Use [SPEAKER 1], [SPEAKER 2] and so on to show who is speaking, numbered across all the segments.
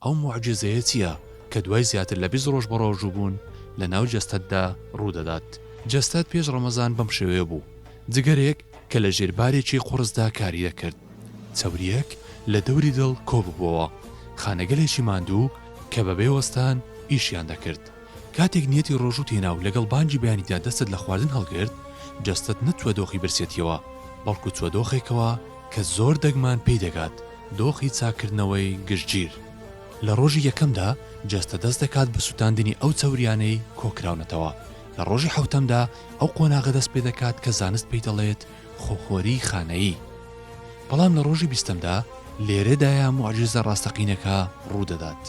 [SPEAKER 1] ئەو موعجیزەیە چییە کە دوای زیاتر لە بیست ڕۆژ بەڕۆژووبوون لەناو جەستەتدا ڕوودەدات؟ جەستەت پێش ڕەمەزان بەم شێوەیە بوو، جگەرێک کە لە ژێر بارێکی قوڕسدا کاری دەکرد، چەورییەک لە دەوری دڵ کۆببووەوە، خانەگەلێکی ماندوو کە بەبێ وەستان ئیشیان دەکرد، کاتێک نیەتی ڕۆژووت هێنا و لەگەڵ بانگی بەیانیدا دەستت لە خواردن هەڵگرت، جەستەت نەچووە دۆخی برسێتییەوە، بەڵکو چووە دۆخێکەوە کە زۆر دەگمان پێی دەگات، دۆخی چاککردنەوەی گشتگیر. لە ڕۆژی یەکەمدا جەستە دەست دەکات بە سوتاندنی ئەو چەورییانەی کۆکراونەتەوە، لە ڕۆژی حەوتەمدا ئەو قۆناغە دەست پێدەکات کە زانست پێی دەڵێت خۆخۆری خانەیی. بەڵام لە ڕۆژی بیستەمدا لێرەدایە موعجیزە ڕاستەقینەکە ڕوودەدات.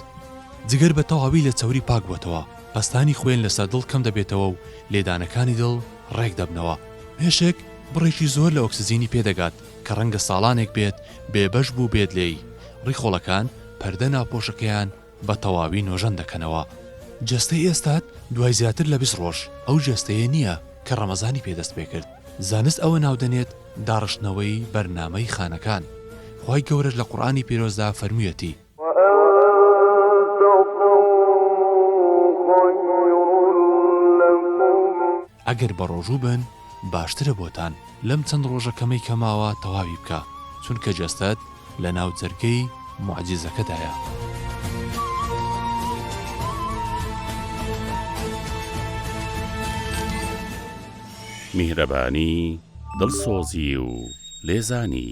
[SPEAKER 1] جگەر بە تەواوی لە چەوری پاک بووەتەوە، پەستانی خوێن لەسەر دڵ کەم دەبێتەوە و لێدانەکانی دڵ ڕێک دەبنەوە. مێشک بڕێکی زۆر لە ئۆکسجینی پێ دەگات کە ڕەنگە ساڵانێک بێت بێبەش بووبێت لێی، ڕیخۆڵەکان پەردە ناوپۆشەکەیان بە تەواوی نۆژەن دەکەنەوە. جەستەی ئێستات دوای زیاتر لە بیست ڕۆژ ئەو جەستەیە نییە کە ڕەمەزانی پێ دەست پێکرد، زانست ئەوە ناودەنێت داڕشتنەوەی بەرنامەی خانەکان، خوای گەورەش لە قورئانی پیرۆزدا فەرموویەتی. ئەگەر بەڕۆژوو بن باشترە بۆتان لەم چەند ڕۆژە کەمەی کە ماوە تەواوی بکە چونکە جەستەت لە ناو جەرگەی موعجیزەکەدایە.
[SPEAKER 2] میهرەبانی، دڵسۆزی و لێزانی.